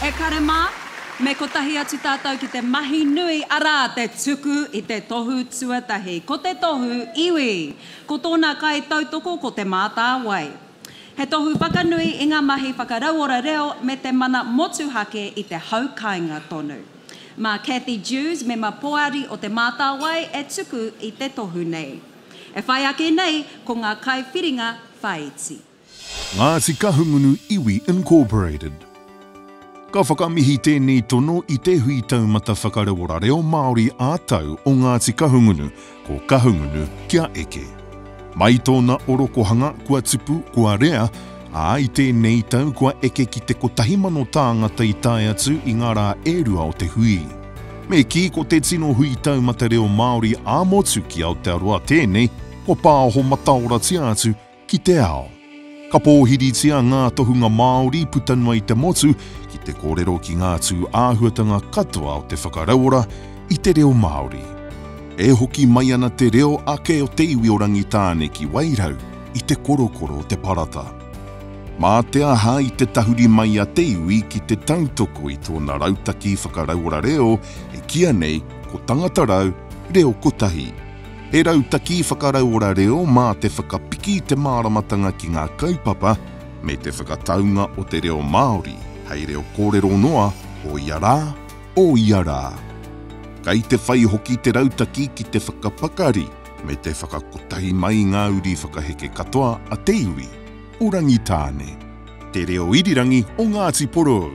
E kare mā, me kotahi atu tātou ki te mahi nui, arā, te tuku i te tohu tuatahi. Ko te tohu iwi, ko tōna kaitautoko ko Te Mātāwai. He tohu whakanui i ngā mahi whakarauora reo me te mana motuhake i te hau kāinga tonu. Mā Cathy Dewes, mema poari o Te Mātāwai, e tuku i te tohu nei. E whai ake nei, ko ngā kaiwhiringa whāiti. Ngāti Kahungunu Iwi Incorporated. Ka whakamihi tēnei tono i Te Hui Taumata Whakarauora Reo Māori ā-Tau o Ngāti Kahungunu, ko Kahungunu kia eke. Mai tōna orokohanga kua tupu, kua rea, ā, i tēnei tau kua eke ki te kotahi mano tāngata i tae atu i ngā rā e rua o te hui. Me kī ko te tino hui taumata reo Māori ā-motu ki Aotearoa tēnei kua pāoho mataoratia atu Ki te ao. Ka pōhiritia ngā tohunga Māori puta noa i te motu ki te kōrero ki ngā tū āhuatanga katoa o te whakarauora i te reo Māori. E hoki mai ana te reo ake o te iwi o Rangitāne ki Wairau i te korokoro o te parata. Mā te aha i te tahuri mai a te iwi ki te tautoko i tōna rautaki whakarauora reo e kīa nei ko Tangata Rau Reo Kotahi, He rautaki whakarauora reo mā te whakapiki i te māramatanga ki ngā kaupapa me te whakataunga o te reo Māori hei reo kōrero noa o ia rā, o ia rā. Kei te whai hoki te rautaki ki te whakapakari me te whakakotahi mai i ngā uri whakaheke katoa a te iwi o Rangitāne. Te Reo Irirangi o Ngāti Porou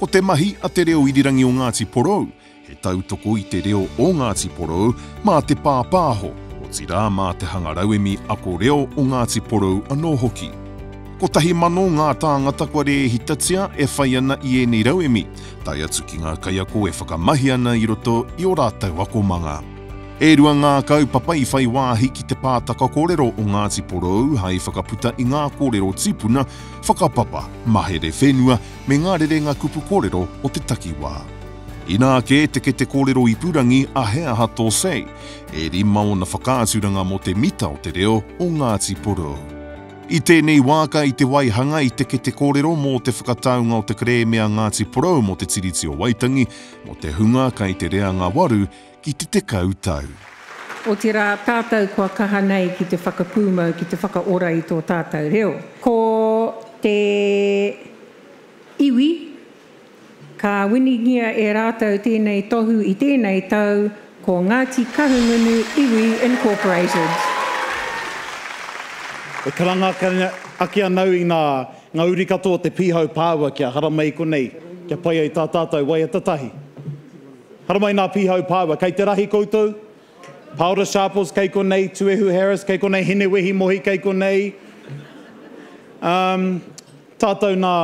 Ko te mahi a Te Reo Irirangi o Ngāti Porou He tautoko i te reo o Ngāti Porou mā te pāpāho, otirā mā te hanga rauemi ako reo o Ngāti Porou anō hoki. Kotahi mano ngā tāngata kua rēhitatia e whai ana i ēnei rauemi, tae atu ki ngā kaiako e whakamahi ana i roto i ō rātou akomanga. E rua ngā kaupapa i whai wāhi ki te pātaka kōrero o Ngāti Porou hai whakaputa i ngā kōrero tipuna, whakapapa, mahere whenua, me ngā rerenga kupu kōrero o te takiwā. Inā kē te kete kōrero ipurangi a He Aha Tō Say? e rima ōna whakaaturanga mō te mita o te reo o Ngāti Porou. I tēnei wā ka i te waihanga i te kete kōrero mō te whakataunga o te kerēme a Ngāti Porou mō te Tiriti o Waitangi, mō te hunga kai te reanga waru, ki te tekau tau. Otirā, tātou kua kaha nei ki te whakapūmau, ki te whakaora i tō tātou reo. Ko te iwi, ka winingia e rātou tēnei tohu i tēnei tau, ko Ngāti Kahungunu Iwi Incorporated. E karanga ake ana au i ngā uri katoa o te Pīhau Pāua kia haramai konei, kia pai ai tā tātou waiata tahi. Haramai nā Pīhau Pāua, kei te rahi koutou? Paora Sharples, kei konei, Tuehu Harris, kei konei, Hinewehi Mohi, kei konei, umm, tātou nā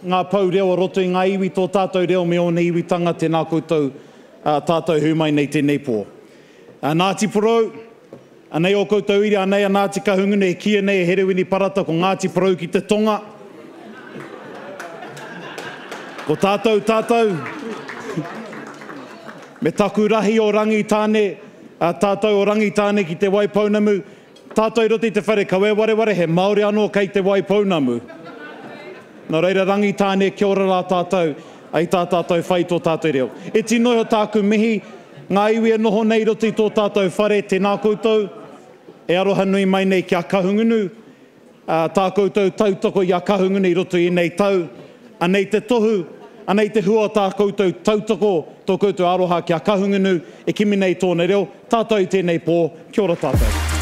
ngā pou reo o roto i ngā iwi, tō tātou reo me ōna iwitanga, tēnā koutou, tātou e hui mai nei tēnei pō. Ngāti Porou. Anei ō koutou ira, anei a Ngāti Kahungunu e kīia nei e Herewini Parata ko Ngāti Porou ki te tonga. Ko tātou, tātou, me taku rahi o Rangitāne, a tātou o Rangitāne ki Te Waipounamu, tātou i roto i te whare kawe wareware, he Māori anō kei Te Waipounamu. Nō reira Rangitāne, kia ora rā tātou, ai tā tātou whai tō tātou reo. Iti noa iho tāku mihi. Ngā iwi e noho nei i roto i tō tātou whare, tēnā koutou e aroha nui mai nei ki a Kahungunu, ā, tā koutou tautoko i a Kahungunu i roto i ēnei tau, anei te tohu, anei te hua o tā koutou tautoko, tō koutou aroha ki a Kahungunu, e kimi nei i tōna reo, tātou i tēnei pō, kia ora tātou.